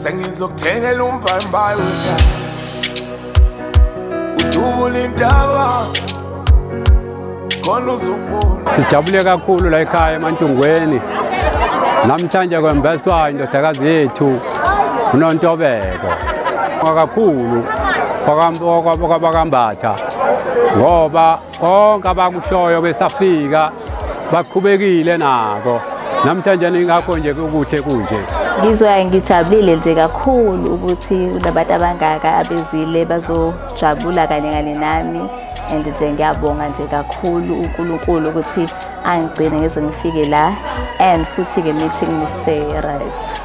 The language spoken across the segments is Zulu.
sengizokuthengela umbhayimbayi wetha udubula intaba khona uzungula sijabule kakhulu la ekhaya emantungweni namhlanje kwembeswa indodakazi yethu unontobeko kakhulu kwabakambhatha ngoba konke abakushoyo besafika bakhubekile nako namhlanje ingakho nje kukuhle kunje ngizwa ngijabulile nje kakhulu ukuthi kunabantu abangaka abezile bazojabula kanye kanye nami and nje ngiyabonga nje kakhulu uNkulunkulu ukuthi angigcine ngize ngifike la and futhi-ke meeting Mr. Rice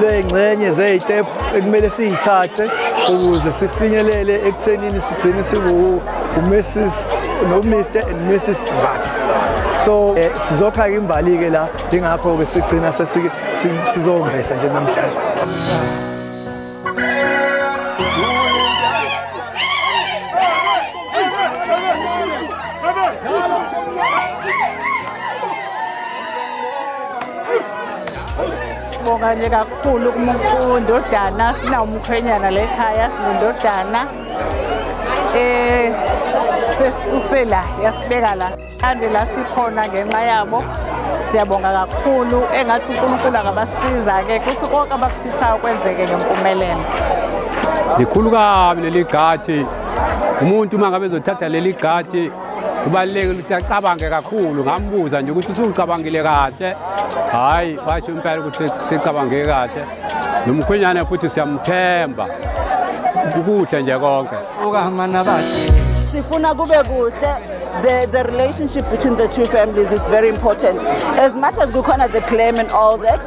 ley'ngxenye zey'tephu ekumele siyithathe ukuze sifinyelele ekuthenini sigcine siwuMrs noMr and Mrs Mbatha so eh, sizophaka imbali-ke la ingakho-ke sigcina sizongeza nje namhlanje Sibonga nje kakhulu kundodana sinawumkhwenyana le khaya sinondodana eh sesuse la yasibeka la ande la sikhona ngenxa yabo siyabonga kakhulu engathi uNkulunkulu angabasiza ke kuthi konke abakufisayo kwenzeke ngempumelelo likhulu kabi leli gadi umuntu uma ngabe ezothatha leli gadi kubalulekile ukuthi acabange kakhulu ngambuza nje ukuthi usucabangile kahle hhayi basho impela ukuthi sicabange kahle nomkhwenyane futhi siyamthemba kukuhle nje konke sifuna kube kuhle the, the relationship between the two families is very important. As much as Gukona, the claim and all that,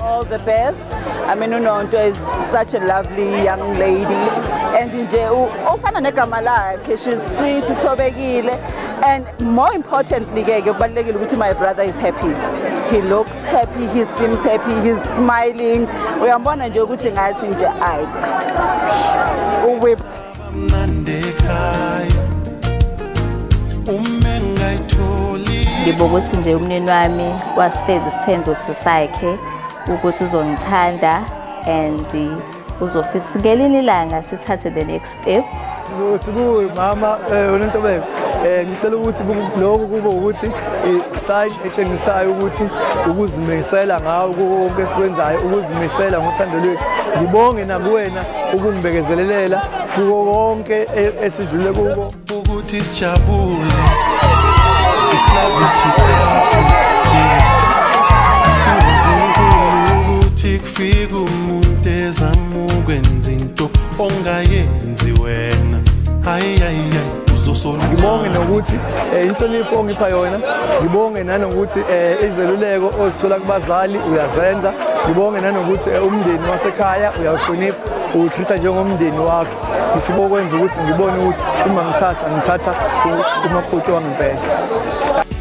All the best. I mean uNonto is such a lovely young lady and nje ofana negama lakhe she's sweet ithobekile and more importantly ke ke kubalekile ukuthi my brother is happy. He looks happy, he seems happy, he's smiling. Uyambona nje ukuthi ngathi nje ay. U whipped. ngibo ukuthi nje umnini wami wasifeza isithembiso sakhe ukuthi uzongithanda and uzofisa ngelinye ilanga sithathe the next step ukuthi kuwe mama eh, unentobeko eh, ngicela ukuthi lokhu kube ukuthi i-sign eh, etshengisayo ukuthi ukuzimisela ngawo konke esikwenzayo ukuzimisela ngothando lwethu ngibonge nakuwena ukumbekezelelela kuko konke e- esidlule kuko ukuthi sijabule isilavithi sakho uzinkulu ukuthi kufika umuntu ezama ukwenza into ongayenzi wena hayi hayi hayi ngibonge nokuthi eh, inhlonipho ongipha yona ngibonge nanokuthi eh, izeluleko ozithola kubazali uyazenza ngibonge nanokuthi eh, umndeni wasekhaya uyawuhlonipha uwutreat-a njengomndeni wakho ngithi bokwenza ukuthi ngibone ukuthi uma ngithatha ngithatha umakoti wangempela